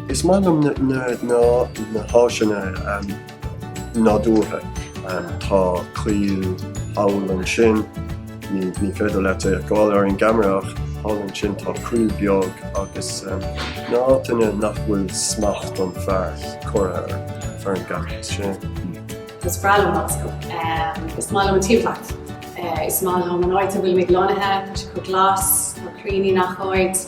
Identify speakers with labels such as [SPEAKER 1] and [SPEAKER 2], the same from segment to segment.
[SPEAKER 1] Is maith liom na háiteanna nádúrtha. Tá coill thall ansin, ní féidir leat é a fheiceáil ar an gceamara ach thall ansin tá coill bheag agus na háiteanna nach bhfuil smacht an fhir curtha ar an gcampas. Is
[SPEAKER 2] breá liom go. Is maith liom an timpeallacht. Is maith liom an áit a bhfuil mé lonnaithe, tá sé chomh glas, tá crainnte i ngach áit,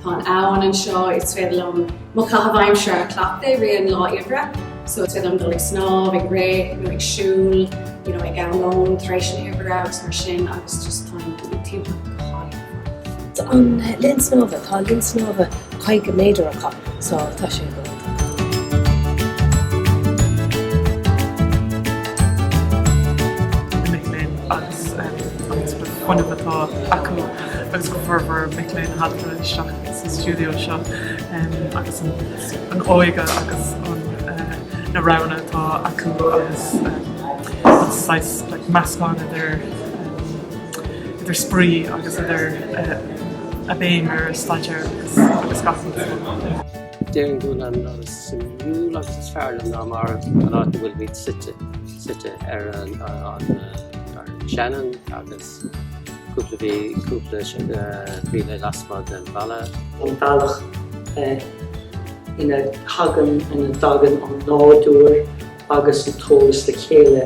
[SPEAKER 2] tá an abhainn anseo, is féidir liom mo chaitheamh aimsire a chleachtadh i rith an lá oibre, so is féidir liom dul ag snámh, ag rith, nó ag siúl, you know, ag am lón tar éis na hoibre agus mar sin agus just tá an timpeallacht go hálainn. Tá an linn
[SPEAKER 3] snámha, tá linn snámha caoga méadar acu, so tá sé go.
[SPEAKER 4] na mic léinn agus an sort of fuinneamh atá acu agus go formhór mic léinn a thagann isteach sa stiúideo seo agus an óige agus na roghanna atá acu agus saghas like meascán idir idir spraoi agus idir an bhéim ar staidéar agus gach rud. Déarfainn
[SPEAKER 5] gurb é an áit is suimiúla agus is fearr liom ná mar an áit a bhfuil muid suite, suite ar an Shannon agus cúpla mhí, cúpla míle lasmuigh den bhaile. An
[SPEAKER 6] bealach ina thagann, ina dtagann an nádúr agus an t-eolas le chéile.